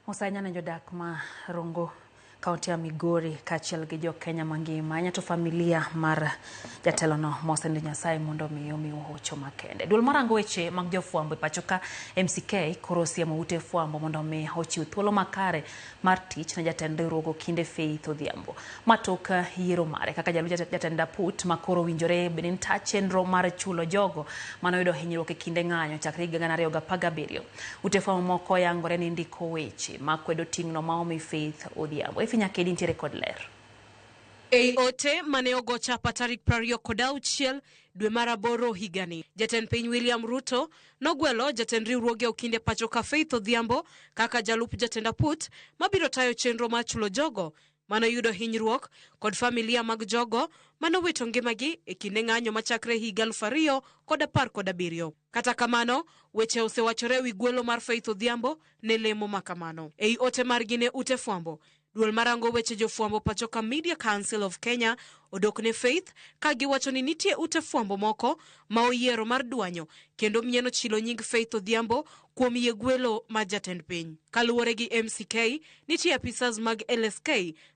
Osanya ne jodak ma Rongo kaunti ya Migori kaachiel gi jo Kenya mangima anya to familia mar jatelono mosendo Nyasaye mondo omi omi hocho makende. Duol marango weche mag jofwambo e pachoka MCK koro osiemo ute fwambo mondo omi ochiw thuolo makare mar tich ne jatend riwruog Okinde Faith Odhiambo matok yiero mare kaka jalup jatend Daput ma koro owinjore bende ni ta chenro mar chulo jogo mane oyudo hinyruok e kinde ng'anyo chakre higa 2017. Ute fwambo moko oyangore ni ndiko weche makwedo ting'no ma omi Faith Odhiambo. Efi Nyakedi nitiere kod ler. Ei ote mane ogo chapa tarik prariyo kod auchiel dwe mar aboro higani, jatend piny William Ruto Nogwelo jatend riwruoge Okinde pachoka Faith Odhiambo kaka jalup jatend aput mabiro tayo chenro mar chulo jogo manoyudo hinyruok kod familia mag jogo manowito ngimagi e kinde ng'anyo machakre higa aluf ariyo kod apar kod abiriyo. Kata kamano, weche osewachore e wi gwelo mar Faith Odhiambo ne lemo makamano. Ei ote margi ne ute fwambo, Duol marango weche jofwambo pachoka Media Council of Kenya odok ne Faith ka giwacho ni nitie ute fwambo moko ma oyiero mar dwanyo kendo mnyeno chilo nying Faith Odhiambo kuom yie gwelo mar jatend piny. Kaluwore gi MCK, nitie apisas mag LSK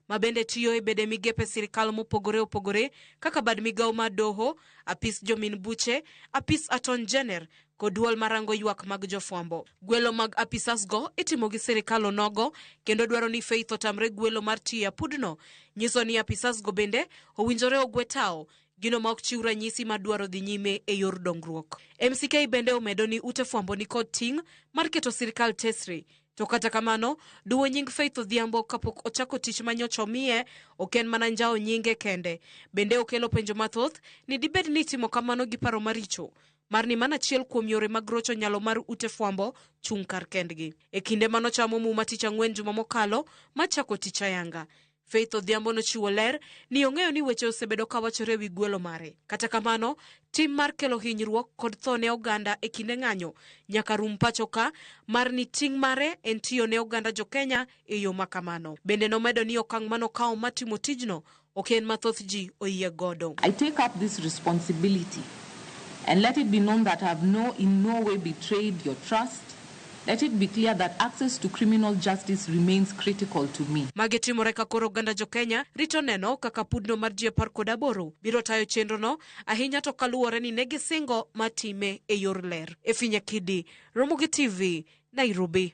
ma bende tiyo e bede migepe sirkal mopogore opogore kaka bad migawo mar doho, apis jomin buche, apis aton jener kod duol marango ywak mag jofwambo. Gwelo mag apisas go itimo gi sirikal onogo kendo dwaro ni Faith otamre gwelo mar tiyo e apudno nyiso ni apisas go bende owinjore ogwe tao gino ma ok chiw ranyisi ma dwaro dhi nyime e yor dongruok. MCK bende omedo ni ute fwambo ni kod ting' mar keto sirikal tesre to kata kamano duwo nying Faith Odhiambo kapok ochako tich ma nyocha omiye ok en mana njawo nyinge kende bende okelo penjo mathoth ni dibed ni itimo kamano gi paro maricho mar ni mano achiel kuom yore mag rocho nyalo mar ute fwambo chung' kar kendgi. E kinde ma nochamo muma tich ang'wen juma mokalo ma chako tich ayanga, Faith Odhiambo nochiwo ler ni ong'eyo ni weche osebedo ka wachore e wi gwelo mare. Kata kamano, tim mar kelo hinyruok kod tho ne oganda e kinde ng'anyo nyaka rum pacho ka mar ni ting' mare en tiyo ne oganda jo Kenya e yo ma kamano. Bende nomedo ni okang' manokawo mar timo tijno Ok en ma thoth ji oyie godo. I take up this responsibility and let it be known that I have no in no way betrayed your trust, let it be clear that access to criminal justice remains critical to me. Magi timore ka koro oganda jo Kenya rito neno kaka pudno mar ji apar kod aboro biro tayo chenro no ahinya to kaluwore ni ne gisingo ma time e yor ler. Efinya Kidi, Ramogi TV, Nairobi.